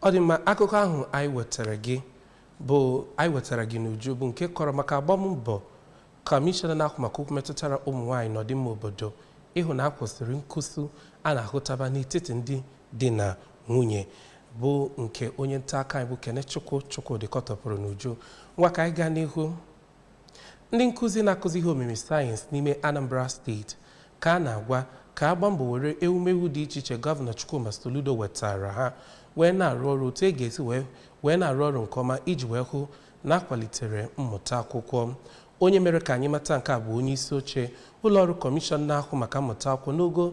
ọ dị mma akụkọ ahụ anyị wetara gị bụ anyị wetara gị n'uju bụ nke kọrọ maka agbammbọ kọmishọna na-ahụ maka okwu metụtara ụmụ nwaanyị na ọdịmma obodo ịhụ na akwụsịrị nkụsu a na-ahụtaba n'etiti ndị di na nwunye bụ nke onye nta akụkọ anyị bụ Kenechukwu Chukwudi kọtọpụrụ n'uju ngwa ka anyị gaa n'ihu ndị nkụzi na-akụzi ihe omimi sayensị n'ime Anambra steeti ka a na-agwa ka a gbaa mbọ were ewumewu dị iche iche gọvanọ Chukwuma Soludo wetara ha wee na-arụ ọrụ otu e ga-esi wee na-arụ ọrụ nke ọma iji wee hụ na akwalitere mmụta akwụkwọ onye mere ka anyị mata nke a bụ onye isi oche ụlọọrụ kọmishọn na-ahụ maka mmụta akwụkwọ n'ogo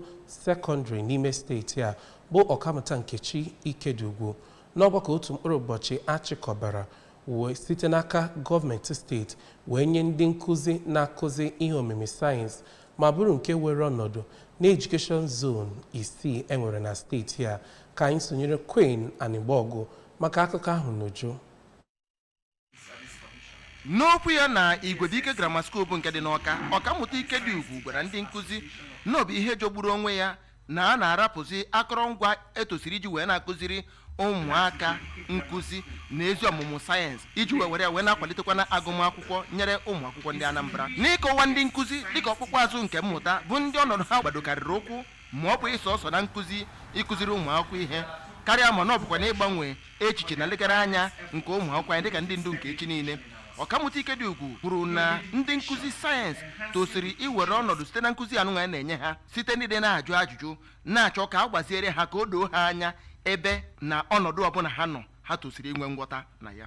sekọndịrị n'ime steeti a bụ ọkammụta Nkechi Ikediugwu n'ọgbakọ otu mkpụrụ ụbọchị achịkọbara wee site n'aka gọọmenti steeti wee nye ndị nkụzi na-akụzi ihe omimi sayensị ma bụrụ nke were ọnọdụ n'Education Zone isii e nwere na steeti a ka anyị sonyere Queen Anigbogu maka akụkọ ahụ n'uju n'okwu ya na Igwebuike Grammar School bụ nke dị n'Ọka ọkammụta Ikediugwu gwara ndị nkụzi na ọ bụ ihe jọgburu onwe ya na a na-arapụzi akọrọngwa etosiri iji wee na-akụziri ụmụaka nkụzi na ezi ọmụmụ sayensị iji wee were ya wee na-akwalitekwa na agụmakwụkwọ nyere ụmụ akwụkwọ ndị Anambra n'ịkọwa ndị nkụzi dịka ọkpụkpụ azụ nke mmụta bụ ndị ọnọdụ ha gbadokarịrị ụkwụ ma ọ bụghị sọọsọ na nkụzi ịkụziri ụmụ akwụkwọ ihe karịa ma na ọ bụkwa na ịgbanwe echiche na nlegara anya nke ụmụ akwụkwọ anyị dịka ndị ndu nke echi niile ọkammụta Ikediugwu kwuru na ndị nkụzi sayensị tosiri iwere ọnọdụ site na nkụzi anụnwa a na-enye ha site n'ịdị na-ajụ ajụjụ na-achọ ka a gbaziere ha ka o doo ha anya ebe na ọnọdụ ọbụla ha nọ ha tosiri inwe ngwọta na ya